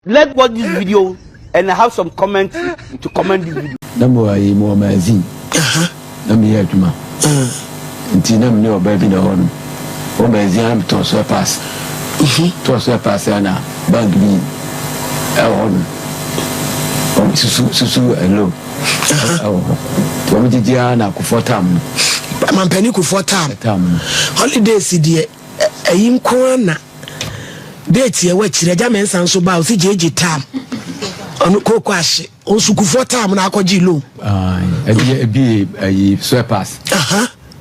Let's watch this video and have some comment to comment this video. Na mo ayi mo ɔmo azin. Na mi yɛ adwuma. Nti na mi ne ɔbaa bi na hɔ no. Wɔn bɛ azin ana tɔɔ so ɛpaase. Tɔɔ so ɛpaase ana bank bi ɛwɔ hɔ no. Wɔn susu susu ɛlo ɛwɔ hɔ. Nti wɔn gyegye ana kufuɔ tam no. Mampanin kufuɔ tam. Tam no. Holidays deɛ. Ɛyi nko ara na date ɛwɔ akyire agya mɛnsa nso baa ɔsi gyegye tam ɔno kooko ahye ɔsukufoɔ tam na akɔgye loan. ɛbi ɛbi ɛyi swepas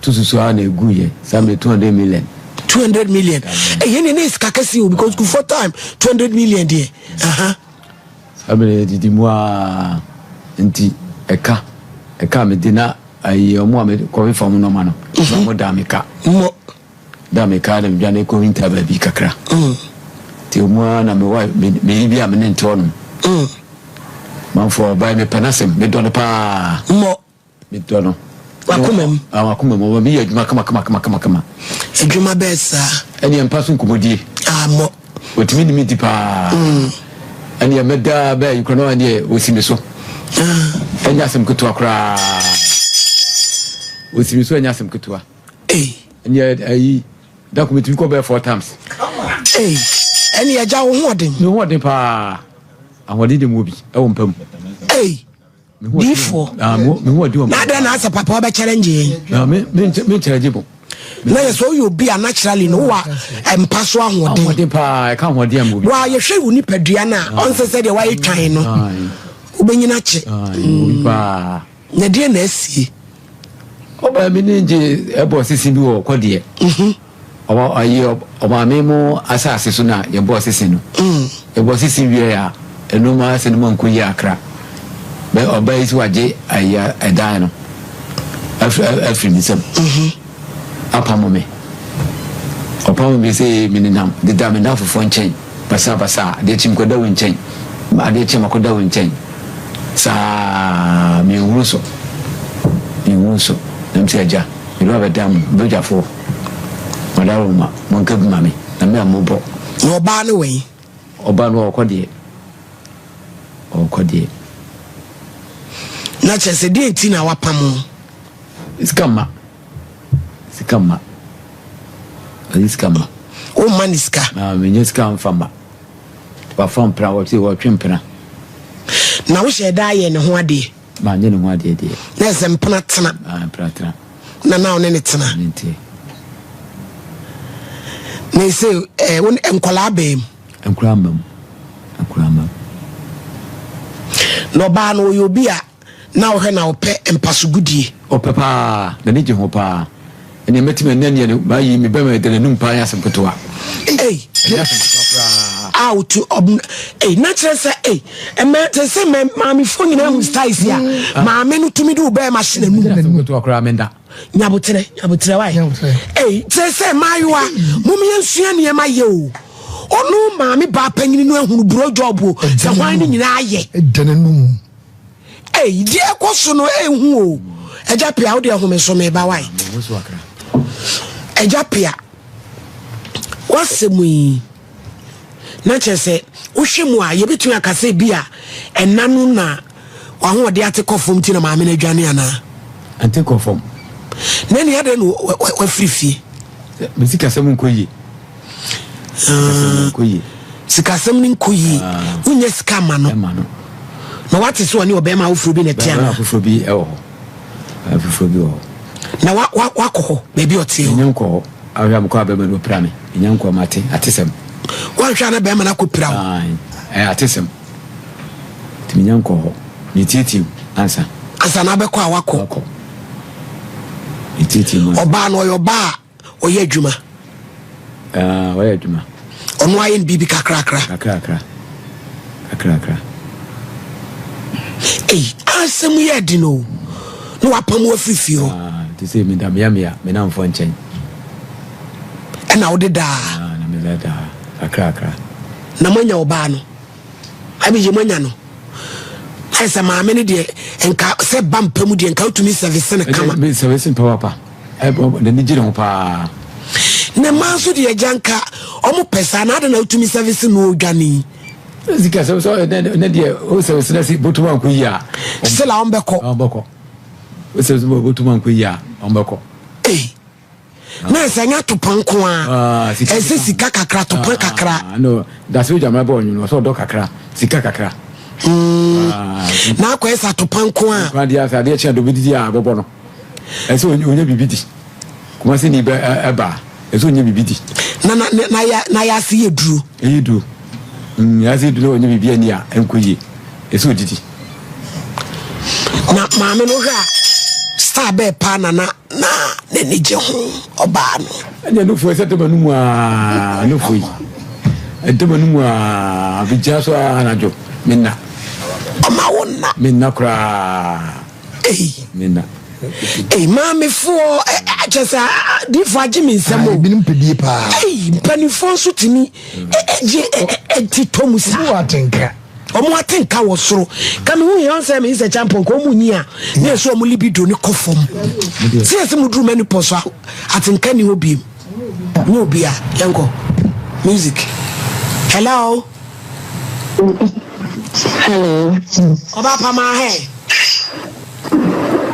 to susu a na egu yɛ sami two hundred million. two hundred million ɛyɛ ne ne sika kɛse o because sukufoɔ tam two hundred million deɛ. abiri edidi mu aa nti ɛka ɛka mi di na ɛyi ɔmo a mi kɔmi fam nɔma no ɔmo da mi ka. Da a mekaa no medwane kɔ winter baabi kakra nti mu ara na mewa meyi bi a mene ntɔɔ nom manfoɔ ɔbae mepɛ no asɛm medɔ no paa mmɔ medɔ no wakomam wakomam ɔma meyɛ adwuma kamakamakamakama adwuma bɛɛ saa ɛneɛ mpa so nkɔmmɔdie ammɔ ɔtumi nimi di paa ɛneɛ mɛdaa bɛɛ yikora no ɛneɛ ɔsi me so ɛnyɛ asɛm ketewa koraa ɔsi me so ɛnyɛ asɛm ketewa Hey. Ɛnyɛ ayi da ko metumi kɔ bɛɛ four times. Hey. Ɛne ɛgya wo ho ɔden. Me ho ɔden paa. Ahoɔden de mu obi ɛwɔ mpa mu. Hey. Diifoɔ. Ah, me ho ɔden wɔ mpa. N'adɛ na asɛ papa ɔbɛ challenge yɛn. Na me me me challenge bo. Na yɛ sɛ ɔyɛ obi a naturally no wa mpa so ahoɔden. Ahoɔden paa ɛka ahoɔden amu obi. Wa yɛhwɛ wo nipadua na ɔnsɛ sɛ deɛ wayɛ twan no. Wobɛnyina kye. Obi paa. Na deɛ na asie. Ɔmaame no gye ɛbɔ sese bi wɔ kɔ deɛ. Mhm. Ɔma ayi ɔmaame mo asase so na yɛbɔ sese no. Mm. Yɛbɔ sese wie a ɛno ma asɛ no ma nko yi akra. Bɛ ɔbaa yi si wagye ayi ɛdan no afiri afiri ne nsam. Mhm. apamo me. Ɔpamo me sɛ menenam deda me nnamfofoɔ nkyɛn basabasa, adeɛ kye mekɔda wo nkyɛn, adeɛ kye makɔda wo nkyɛn saa menhunu so, menhunu so nam sɛ agya mede wabɛda mo badwafoɔ, madaworo ma monka bi ma me na me a mobɔ. Na ɔbaa ne wɛn? Ɔba no ɔɔkɔ deɛ, ɔɔkɔ deɛ. Na kyerɛ sɛ deɛ nti na wapam wo. Sika mma, sika mma, ɔde sika mma. O mma ne sika. Na menyɛ sika mfa mma. Wafa mpena, wɔte wɔtwe mpena. Na wohyɛ da ayɛ ne ho adeɛ. Manyɛ ne ho adeɛ deɛ. Na ɛsɛ mpena tena. Ah, mpena tena. Na na ɔne ne tena. Ne nteɛ. Na ɛsɛ eh, wo nkɔlaa bɛɛ mu. Nkura mma mu. Nkura mma mu. Na ɔbaa no ɔyɛ obi a na ɔhwɛ na ɔpɛ mpasogudie. Ɔpɛ paa, n'ani gye ho paa. Ɛnneɛ mɛtumi anya nea no mayi me bɛma ɛda n'anum paa yɛ asɛm ketewa. Ei! Ɛyɛ asɛm ketewa paa. Aw to ɔbn ei na kyerɛ sɛ ei ɛmɛ te sɛ mɛ maamefoɔ nyinaa hu style si a mm. maame no tumi de wo bɛɛma hyɛ n'anum. Ɛyɛ asɛm ketewa koraa menda. Nyabotrɛ nyabotrɛ wae. Ei kyerɛ sɛ maayewa mom yɛn sua nneɛma yɛ o. Ɔno maame baa panyini no ahunu buro job o sɛ hwan ne nyinaa yɛ. Ɛda n'anum. Ei deɛ ɛkɔ so no ɛhu o Agya Pia wo deɛ home so meba wae Agya Pia wasɛm yi na kyerɛ sɛ wohwɛ mu a yɛbɛtumi aka sɛ bi a ɛna no na wahoɔde ate kɔ fam ti na maame no adwane anaa ate kɔ fam na ni adɛn na wafiri fie bɛsi kasɛm nkɔ yie sikasɛm no nkɔ yie wonyɛ sika ma no na wate sɛ ɔne ɔbɛrima awoforɔ bi na ɛte ana afoforɔ bi wɔ hɔ afoforɔ bi wɔ hɔ na wakɔ hɔ baabi ɔteɛ hɔ ɛnyɛ nkɔ hɔ ahwɛ a mekɔ a bɛrima no ɔpira me ɛnyɛ nkɔ ma ate atesɛm woanhwɛ a na bɛrima no akɔpira wo atesɛm nti menya nkɔ hɔ metietie mu ansa ansa na abɛkɔ a wakɔ ɔbaa no ɔyɛ ɔbaa Ɔyɛ adwuma. Ah, ɔyɛ adwuma. Ɔno ayɛ no biribi kakrakra. Kakrakra. Kakrakra. Ei, asɛm yɛ den o. Na wapam wo afiri fie hɔ. Ah, te sɛ meda mmeammea me namfoɔ nkyɛn. Ɛna wode daa. Ah, na meda daa. Kakrakra. Na moanya ɔbaa no. Bible yɛ mu anya no ayɛ sɛ maame no deɛ nka sɛ ba mpa mu deɛ nka wotumi sɛvese no kama sɛvese mpa wapa n'ani gye ne ho paa ne mma nso deɛ agya nka ɔmo pɛ saa na ade na wotumi sɛvese no odwane sika sɛ sɛ ne deɛ wosɛvese no si botom ankɔ yi a sila ɔmbɛkɔ ɔmbɛkɔ wosɛvese botom ankɔ yi a ɔmbɛkɔ ei na ɛsɛ nyɛ atopɔn nko a ah, ɛsɛ sika kakra atopɔn ah, kakra ah, no dasere gyama bɔ ɔnwene ɔsɛ ɔdɔ kakra sika kakra hmm. na akɔyɛ sɛ atopɔn nko a adeɛ asɛ adeɛ kyɛn do bɛdidi a bɔbɔ no ɛsɛ ɔnyɛ biribi di kuma sɛ ni bɛ ɛba ɛsɛ ɔnyɛ biribi di na yɛ ase yɛ duro ɛyɛ duro Wiase du na wɔnyɛ biribi ani a ɛnkɔ yie. Ɛsɛ odidi. Na maame no hwɛ a star bɛɛ paa na na na n'ani gye ho ɔbaa no. Ɛnyɛ nofo ɛsɛ dɛm anum aa nofo yi. Ɛdɛm anum aa bɛgyina so aa anadwo me nna. Ɔma wo nna. Me nna koraa. Ei. Me nna. Ei maamefoɔ ɛkyɛ sɛ diifoɔ agye me nsɛm o. Ebinom pɛ die paa. Ei mpanimfoɔ nso tumi. ɛgye ɛti tɔ mu saa. wɔn ate nka. wɔn ate nka wɔ soro kàmi hu yɛn sɛ mi nsɛ kyampɔn kò wɔn nyi a ne yɛ so wɔn libido ne kɔ fam si yɛ sɛ mo duru mɛni pɔ so a ate nka ni hɔ biem ne obi a yɛn kɔ music hello. hello. ọba apama ahẹ.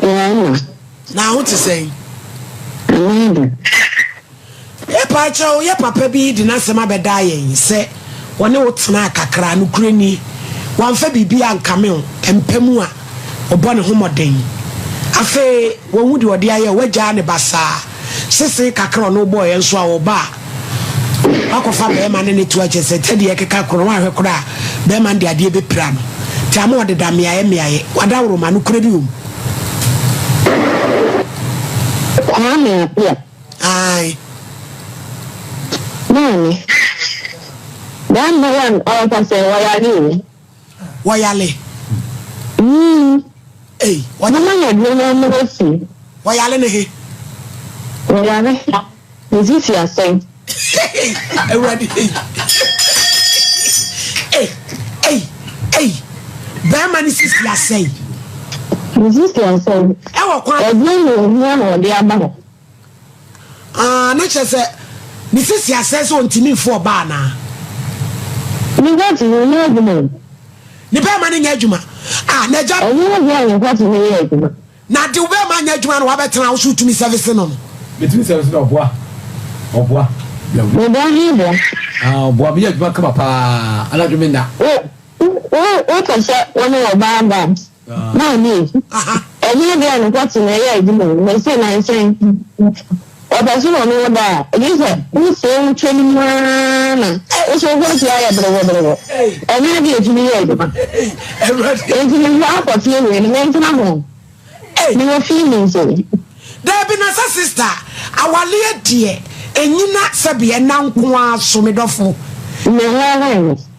yẹn na. na ahụ ti sẹyin. Epaakya o, yɛ papa bi de n'asɛm abɛdaa yɛn sɛ wɔne wo tenaa kakra, nokorɛ ni, wamfa biribi ankame wo, ɛmpa mu a, ɔbɔ ne ho mmɔden. Afei, wanhu deɛ ɔde ayɛ wo, wagyaa ne basaa, sesee kakra a ɔne wo bɔeɛ nso a, ɔba a, woakɔfa barima ne no to akyire sɛ sɛdeɛ yɛrekeka korɔ no, woanhwɛ koraa a, barima no de adeɛ bɛpira no, nti ama ɔdeda mmeaeɛ mmeaeɛ, wadaworoma, nokorɛ ni o. Kwame Appiah. Ae. Maame, number one ɔɔka sɛ wɔyale o. Wɔyale. Yii. Ei, wɔyale. Mama yɛ deɛ na mmrɛ si. Wɔyale ne he? Wɔyale. Ne sisi asɛn. Awurade ei. Ei, ei, ei. Bɛɛma ne sisi asɛn. Ne sisi asɛn. Ɛwɔ kwan. Ɛdeɛ na ohia na ɔde aba hɔ. Aah na kyerɛ sɛ ne sisi asɛe sɛ ɔntumi mfa ɔbaa anaa? Ne hwɛte no nyɛ adwuma o. Ne bɛɛma no nyɛ adwuma ah na agya. Ɛnyɛ wo dea ne hwɛte no yɛ adwuma. Na de wo bɛɛma anyɛ adwuma na wabɛtena wo so wotumi sɛvese no no. Metumi sɛvese no ɔboa ɔboa. Meboa he boa. Aah ɔboa meyɛ adwuma kama paa anadwo menna. Wo wo wo pɛ sɛ wo ne ɔbaa da a. Maame, Ɛnyɛ ade a ne nsa so na ɛyɛ adwuma o, na ɛsɛ nnansa yi. Ɔpɛ so na ɔne wo da a, ɛnyɛ sɛ wosee wo twam no ara na wohyɛ wo ho ase ayɛ berewɔberewɔ. Ɛnyɛ ade a ɛtumi yɛ adwuma. Enti me ho akɔ fie wei no, mentena ho. Mewɔ fie mu sei. Daabi, na sɛ sista, awaleɛ deɛ, ɛnyina sɛbe ɛna nko ara so, me dɔfo. Me ho ahɔn no.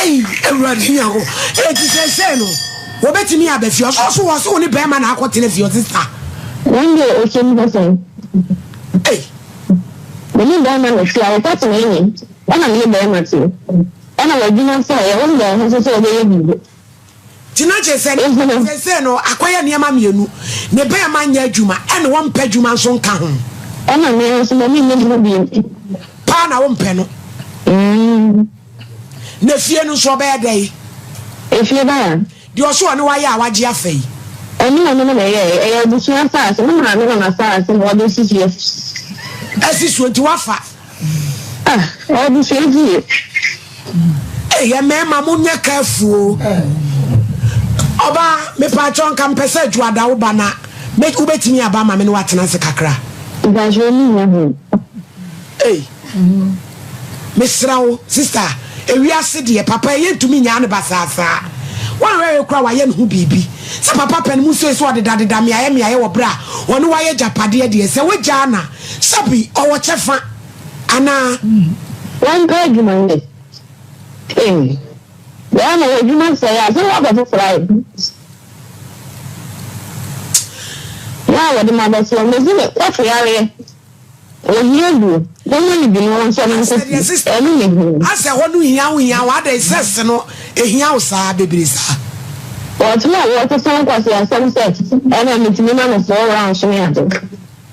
ɛyi awurade nyako ɛti sɛ sɛ no wɔbɛtumi abɛ fie ɔsɔ so wɔ so wo ne bɛrima na akɔ tena fie ɔse sa wɔn deɛ ɔsɛ mu hɔ sɛn mene bɛrima na fie a wɔkɔ tena ɛne ɛna mene bɛrima te ɛna wɔadwuma sɛ yɛwɔ mbɛn ho so sɛ wɔbɛyɛ biribi Gyina gye sɛ ne ba seesei no akɔyɛ nneɛma mmienu, ne barima nyɛ adwuma ɛnna ɔmpɛ adwuma nso nka ho. Ɛnna me ara nso ma menyɛ adwuma bio. Paa na wompɛ no. Na efie no nso ɔbɛyɛ dɛn? Efie ba a. Deɛ ɔso ɔne wo ayɛ a wagye afa yi. Ɛno na me ne no yɛeɛ. Ɛyɛ abusua asase. Me maame na n'asase na wɔde asisi afi. Asi so nti woafa Ah, abusua bi ye. Hey, yɛ mmarima mo nyɛ careful o. Ɔba, mepatwɔ nka mpɛ sɛ Juada wo ba na me wobɛtumi aba ma me ne watena ase kakra. Mpatwɔ ni nyɛ ho. Hey, mesrɛ wo, sister, ewiase deɛ papa ɛyɛ ntumi nyaa ne ba saa saa. Wanhwɛhwɛ kora wayɛ ne ho biribi. Sɛ papa pɛ no mu nsuo sɛ ɔdedadeda mmeaeɛ mmeaeɛ wɔ berɛ a ɔne wo ayɛ agyapadeɛ deɛ, sɛ wogyaa na. Sɛbi ɔwɔ kyɛfa anaa? Wɔmpɛ adwuma nyɛ. Eii bɛɛma w'adwuma sɛe a, sɛ ne w'apɛ foforɔ ayɛ Yɛ a wɔde ma bɛsoɔ mesi ne kɔto yareɛ Ohia duro, bɛma no bi na ɔnsɔ no nkɔsi Ɛno ne huu. Asɛ hɔ no hia wo hia wo adɛn sex no ɛhia wo saa bebree saa. Wɔtena wɔte sɛ nkwasiasɛm sɛ ɛna metumi ma no four rounds ne ade.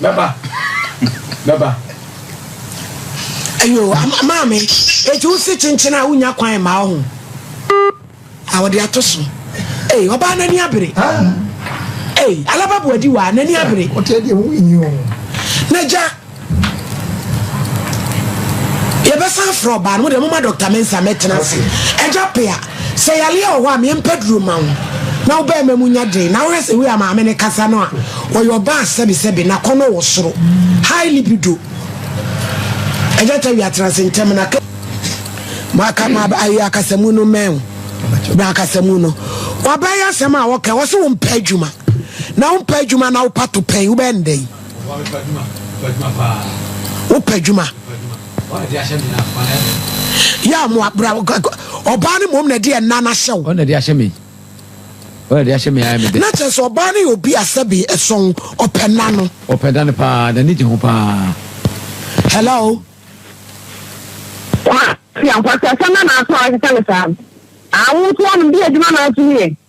Mɛba. Mɛba. Ayo, ama, maame, eti wo se kyenkyen a wonya kwan mma wo ho. A wɔde ato so. Ei, ɔbaa n'ani abere. Ei, alaba boadi wa, n'ani abere. Ɔte ɛdeɛ ho yi o. N'agya. Yɛbɛsan afrɛ ɔbaa no, mo deɛ moma Dɔkta Mensah mmɛtena ase. Agya Pea, sɛ yareɛ wɔ hɔ a, meɛmpa duro mma wo na wo barima mu nya den. Na wohwɛ sɛ wei a maame no kasa no a, ɔyɛ ɔbaa sɛbesɛbe, n'akɔnnɔ wɔ soro, high libido. Agya Tawia, tena ase ntɛm na ka maka ma ayi akasamu no mmɛn wo. Bra akasamu no. Wabɛyɛ asɛm a wɔka, wɔse wompɛ adwuma. Na wompɛ adwuma na wopa topɛn, wobɛyɛ no dɛn? Wopɛ adwuma. Yɛ a mo abra ɔbaa no mmom na ɛde ɛna no ahyɛ wo. Na kyerɛ sɛ ɔbaa no yɛ obi a sɛbe ɛsɔn ɔpɛ na no. Ɔpɛ da no paa na ne gye ho paa. Hello. Kwa, si ankɔsɛ sɛ na n'aso ahyehyɛ no saa. Awo nso ɔno bi adwuma n'aso yɛ.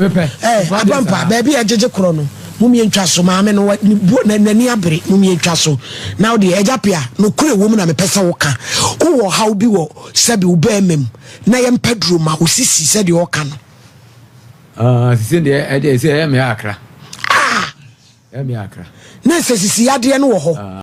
Eh, Abampa, baabi a ɛgyegye korɔ no, mumie ntwa so, maame no n'ani abere, mumie ntwa so. Na wo deɛ, agya pia, nokorɛ wɔ mu na mepɛ sɛ woka. Wowɔ ɔhaw bi wɔ sɛbi wo bɛrima mu, na yɛmpa duro ma wo sisi sɛdeɛ ɔka no. Ah, sisi deɛ, ɛdeɛ sɛ ɛyɛ mmea akra. Ah! Ɛyɛ mmea akra. Na sɛ sisi yadeɛ no wɔ hɔ. Ah.